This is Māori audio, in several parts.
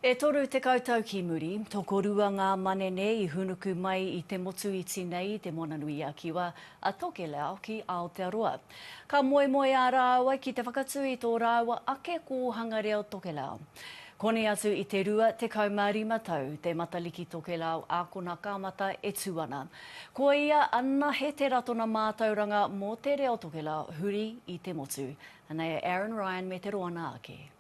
E toru tekau tau ki muri, tokorua ngā manene i hūnuku mai i te motu iti nei i Te Moananui-a-Kiwa a Tokelau ki Aotearoa. Ka moemoeā rāua ki te whakatū i tō rāua ake kōhanga reo Tokelau. Koni atu i te rua tekau mā rima tau te Matariki Tokelau ākona kāmata e tū ana. Ko ia anahe te ratona mātauranga mō te reo Tokelau huri i te motu. Anei a Aaron Ryan me te roanga ake.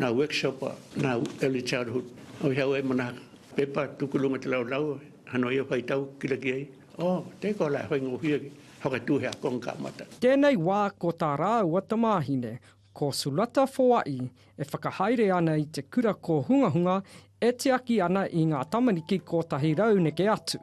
Nā Workshop, nā Early Childhood, hoi hau ai mana pepa tuku runga te rau rau, ha noa ia whai tau ki raki ai, oh, tē koa la, hoi ngō whia ki, whakatū he ako ngā mata. Tēnei wā ko tā rāua tamāhine, ko Sulata Foaʻi, e whakahaere ana i te kura kōhungahunga e tiaki ana i ngā tamariki kōtahi rau neke atu.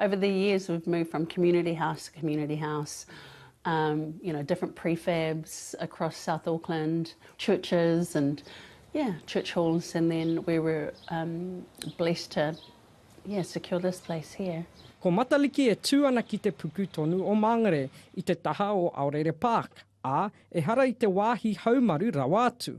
Over the years we've moved from community house to community house, um, you know, different prefabs across South Auckland, churches and yeah, church halls and then we were um, blessed to yeah, secure this place here. Ko Matariki e tū ana ki te puku tonu o Māngere i te taha o Aorere Park, ā, ehara i te wāhi haumaru rawa atu.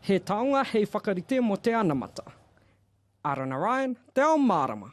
He taonga hei whakarite mō te anamata. Ara Narayan, Te Ao Mārama.